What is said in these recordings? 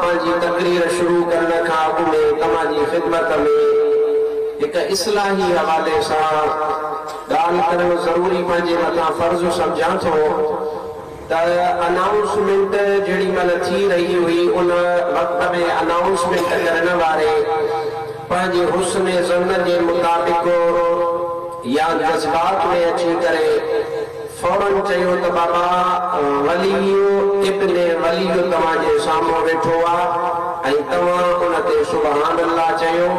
ڪما جي تقرير شروع ڪرڻ کان اڳ ۾ ڪما جي خدمت ۾ هڪ اصلاحي حوالي سان ڳالهه ڪرڻ ضروري پنهنجي مٿان فرض سمجهان ٿو ته انائونسمينٽ جهڙي مهل ٿي رهي هئي ان وقت ۾ انائونسمينٽ ڪرڻ واري پنهنجي حسن ظن جي مطابق يا جذبات ۾ اچي ڪري فورن چيو ته بابا وليء ابن وليء توهان جي سامهون ويٺو آ ۽ توهان ان تي سبحان الله چيو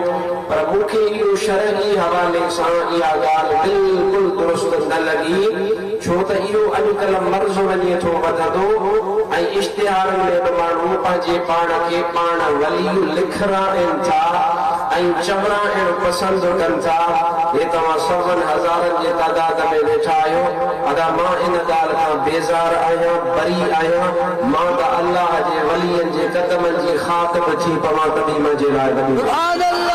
پر مون کي اهو شرعي حوالي سان اها ڳالهه بلڪل درست نه لڳي ڇو ته اهو اڄڪلهه مرض وڃي ٿو وڌندو ۽ اشتهارن ۾ به ماڻهو پنهنجي پاڻ کي پاڻ وليء لکرائين ٿا ۽ چورائڻ پسند ڪن ٿا هي توهان سون هزارن جي تعداد ته ۾ ويٺا آهيو، ادا مان ان ڳالهه کان بيزار آهيان، بريء آهيان، مان ته الله جي ولين جي قدمن جي خاڪ به ٿي پوان ته به منهنجي لاء وڏي ڳالهه آهي.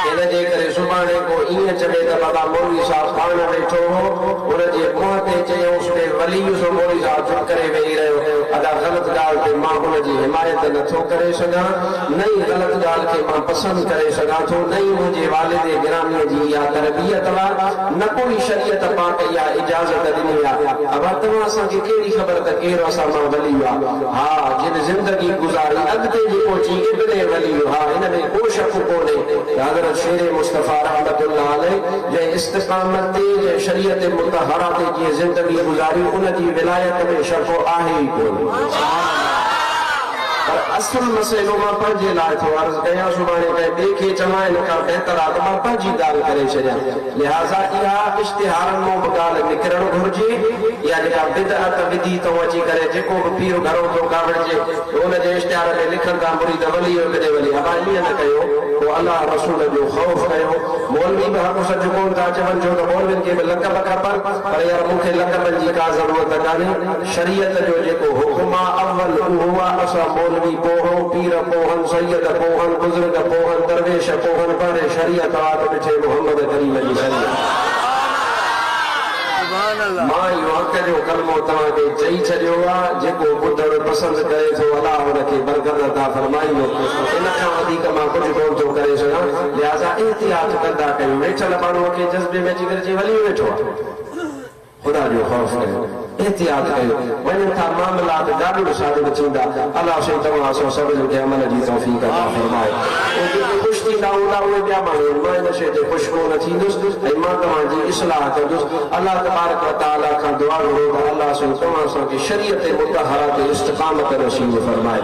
ان جي ڪري سڀاڻي ڪو ائين چوي ته بابا مولوي صاحب پاڻ ويٺو هو، ان جي منهن تي چيائونس بي ولي سو مولوي صاحب چپ ڪري ويهي رهيو، ادا غلط ڳالهه تي مان ان جي حمايت نه ٿو ڪري سگهان، نه ئي غلط ڳالهه کي مان پسند ڪري سگهان ٿو، نه ئي منهنجي والد گراميء جي اها تربيت هئا، نه ڪو ئي شريعت پاڪ اها اجازت ڏني ها. ابا توهان اسان کي ڪهڙي خبر ته ڪير اسان مان ولي هئا؟ ها، جن زندگي گذاري اڳتي به پهچي ابن ولي هئا، ان ۾ ڪو شڪ ڪونهي ته حضرت شير مصطفيٰ رحمة الله عليه جنهن استقامت تي، جنهن شريعت مطهرة تي جيئن زندگي گذاري، ان جي ولايت ۾ شڪ آهي ئي ڪونه. سبحان الله. پر اصل مسئلو مان پنهنجي لاء ٿو عرض ڪيان سڀاڻي ڪنهن ٻئي کي چوان ان کان بهتر آ ته مان پنهنجي ڳالهه ڪري ڇڏيان لهٰذا اها اشتهارن مون به ڳالهه نڪرڻ گهرجي اها جيڪا بدعت وڌي تئون اچي ڪري جيڪو به پير گهرو ٿو ڪاوڙجي ته ان جي اشتهار ۾ لکن ٿا مريد ولي ايڪ ڏي ولي ابا ائين نه ڪيو پوء الله رسول جو خوف ڪيو مولوي به حق سچ ڪون ٿا چون ڇو ته مولوين کي به لقب کپن پر يار مون کي لقبن جي ڪا ضرورت ڪانهي شريعت جو جيڪو حڪم آ اول اهو آ اسان مولوي ڪوهو، پير ڪوهن، سيد ڪوهن، بزرگ ڪوهن، درويش ڪوهن بهري شريعت آ ته ڏٺي محمد ڪريم جي شريعت آ. مان اهو حق جو ڪلمو توهان کي چئي ڇڏيو آ جيڪو ٻڌڻ پسند ڪري ٿو الله ان کي برڪت عطا فرمائيندو ان کان وڌيڪ مان ڪجهه ڪون ٿو ڪري سگهان لهذا احتياط ڪندا ڪيون ويٺل ماڻهو کي جذبي ۾ اچي گڏجي ولي ويٺو آ. خدا جو خوف ڪيو احتياط ڪيو وڃن ٿا معاملات گاڏڙ شاڏڙ ٿيندا الله سائين توهان اسان سڀني کي عمل جي توفيق عطا فرمائي ۽ جيڪي خوش ٿيندا هوندا اهي ٻيا ماڻهو آهن مان ان شيء تي خوش ڪونه ٿيندس ۽ مان توهان جي اصلاح ڪندس الله تبارڪ وتعالي کان دعا گهرو ته الله سائين توهان اسان کي شريعت مطهره تي استقامت نصيب فرمائي.